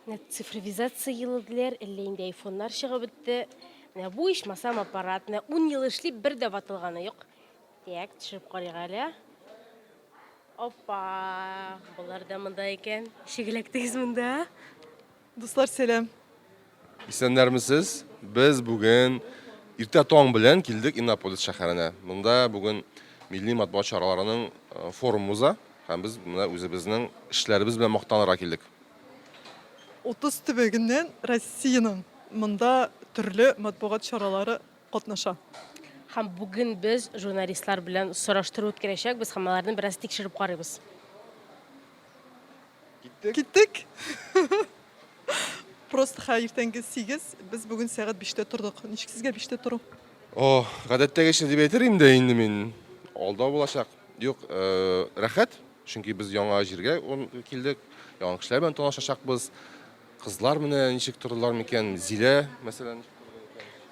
Менә цифровизация елы диләр, әллә инде айфоннар чыгып бетте. Менә бу ичмасам аппарат, менә 10 ел эшли, бер дә ватылганы юк. Так, төшереп карыйк әле. Опа! Болар да монда икән. Шигеләктегез монда. Дуслар, сәлам. Исәннәрмесез! Без бүген иртә таң белән килдек Иннополис шәһәренә. Монда бүген милли матбугат чараларының э, форум уза һәм без менә үзебезнең эшләребез белән мактанырга килдек. 30 төбәгеннән Россиянең монда төрле матбугат чаралары катнаша. Һәм бүген без журналистлар белән сораштыру үткәрәчәкбез һәм аларны бераз тикшереп карыйбыз. Киттек. Киттек. Просто ха иртәнге 8, без бүген сәгать 5-тә тордык. Ничек сезгә 5-тә тору? О, гадәттәгечә дип әйтер инде инде мин. Алда булачак. Юк, э, рәхәт, чөнки без яңа җиргә он- килдек, яңа кешеләр белән танышачакбыз. Кызлар менә ничек тордылар микән? Зилә, мәсәлән.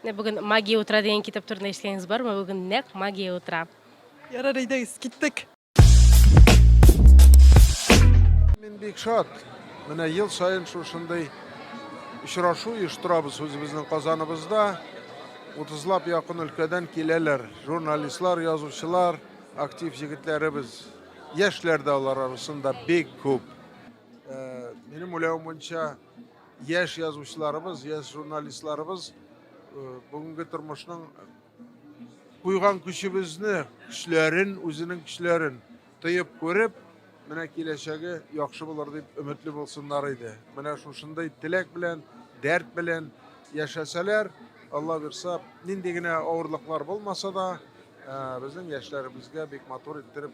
Менә бүген Магия утра дигән китап турында ишеткәнегез бармы? Бүген нәкъ магия утра. Ярар, әйдәгез, киттек. Мин бик шат. Менә ел саен шушындый очрашу оештырабыз үзебезнең Казаныбызда. Утызлап якын өлкәдән киләләр. Журналистлар, язучылар, актив егетләребез. Яшьләр дә алар арасында бик күп. Э, минем уйлавым буенча, яшь язучыларыбыз, яшь журналистларыбыз э, бүгенге тормышның Куйган көчебезне, көчләрен, үзенең көчләрен тоеп күреп, менә киләчәге яхшы булыр дип өметле булсыннар иде. Менә шушындый теләк белән, дәрт белән яшәсәләр, Алла бирса, нинди генә авырлыклар булмаса да, безнең яшьләребезгә бик матур иттереп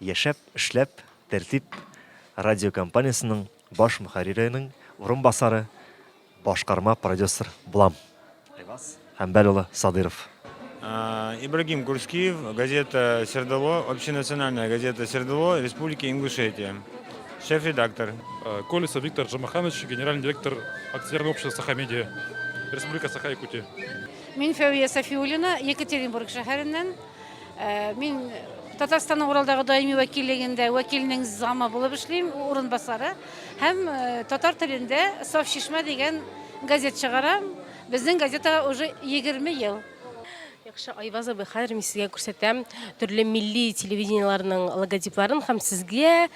Яшәп, эшләп, Тәртип радиокомпаниясенең баш мөхәрриренең урынбасары, башкарма продюсер булам. Айваз Хәмбәл улы Садыйров. Ибрагим Курскиев, газета Свердло, общенациональная газета Свердло, Республика Ингушетия. Шеф редактор. Колесов Виктор Джумаханович, генеральный директор акционерного общества Саха-Медиа, Республика Саха-Якутия. Мин Фәвия Сафиуллина, Екатеринбург шәһәреннән. Э, мин Татарстанның Уралдагы даими вәкиллегендә вәкилнең замы булып эшлим, урынбасары һәм э, татар телендә Саф чишмә дигән газет чыгарам. Безнең газетага уже 20 ел. Яхшы, Айваз абый, хәзер мин сезгә күрсәтәм төрле милли телевидениеләрнең логотипларын һәм сезгә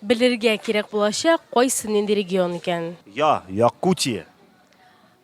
белергә кирәк булачак, кайсы нинди регион икән. Я, Якутия.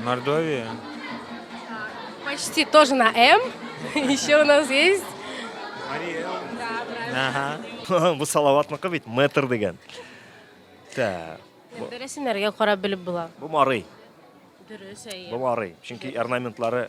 Мордовия. Почти тоже на М. Еще у нас есть. Мария. Да, правильно. Ага. Бу Салаватныкы бит метр дигән. Так. Бересенәргә карап белеп була. Бу Марый. Дөрес әйе. Бу Марый. Чөнки орнаментлары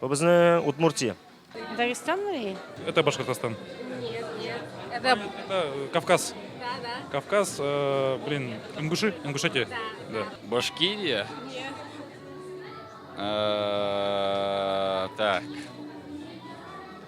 Бу безнең Удмуртия. Дагестанмы? Это Башкортостан. Нет, нет. Это, это э, Кавказ. Да, да. Кавказ, э, блин, Ингуши, Ингушетия. Да. да. Башкирия? Нет. Э, так.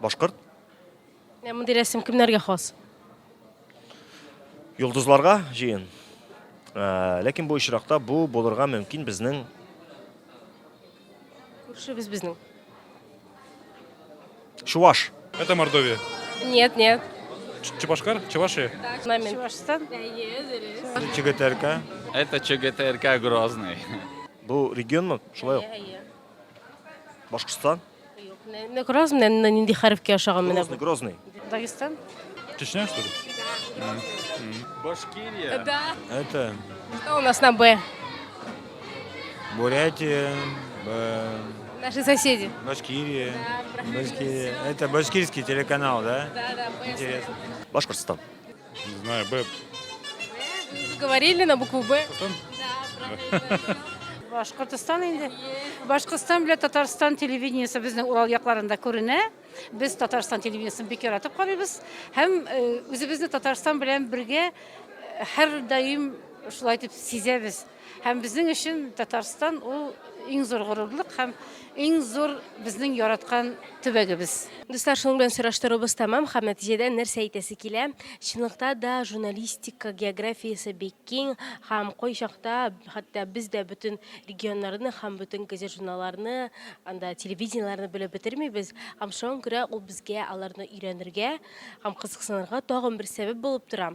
Башкорт. Менә мондый рәсем кемнәргә хас? Йолдызларга җыен. Ә, ләкин бу очракта бу булырга мөмкин безнең күршебез безнең. Чуваш. Это Мордовия. Нет, нет. Чебашкар? Чевашия? Момент. Чувашстан. ЧГТРК. Это ЧГТРК Грозный. Бу регионмы? Шулай ук. Башкортстан. Юк, не, не Грозный, не, не нинди хәрефкә ошаган менә Грозный, бу. Грозный. Дагестан? Чечня, что ли? Башкирия. Да. Это Что у нас на Б? Бурятия, э, Наши соседи. Башкирия. Башкирия. Это башкирский телеканал, да? Да, да, Интересно. Башкортостан. Не знаю, Б. Вы говорили на букву Б? Башкортостан инде. Башкортостан белән Татарстан телевидениесе безнең Урал якларында күренә. Без Татарстан телевидениесен бик яратып карыйбыз һәм э, үзебезне Татарстан белән бергә э, һәрдаим шулай итеп сизәбез. Һәм безнең өчен Татарстан ул иң зур горурлык һәм иң зур безнең яраткан төбәгебез. Дуслар, шуның белән сораштыруыбыз тәмам һәм нәтиҗәдә нәрсә әйтәсе килә? Чынлыкта да журналистика географиясе бик киң һәм кайчакта хәтта без дә бөтен регионнарны һәм бөтен газет-журналларны, анда телевидениеләрне белеп бетермибез. Һәм шуңа күрә ул безгә аларны өйрәнергә һәм кызыксынырга тагын бер сәбәп булып тора.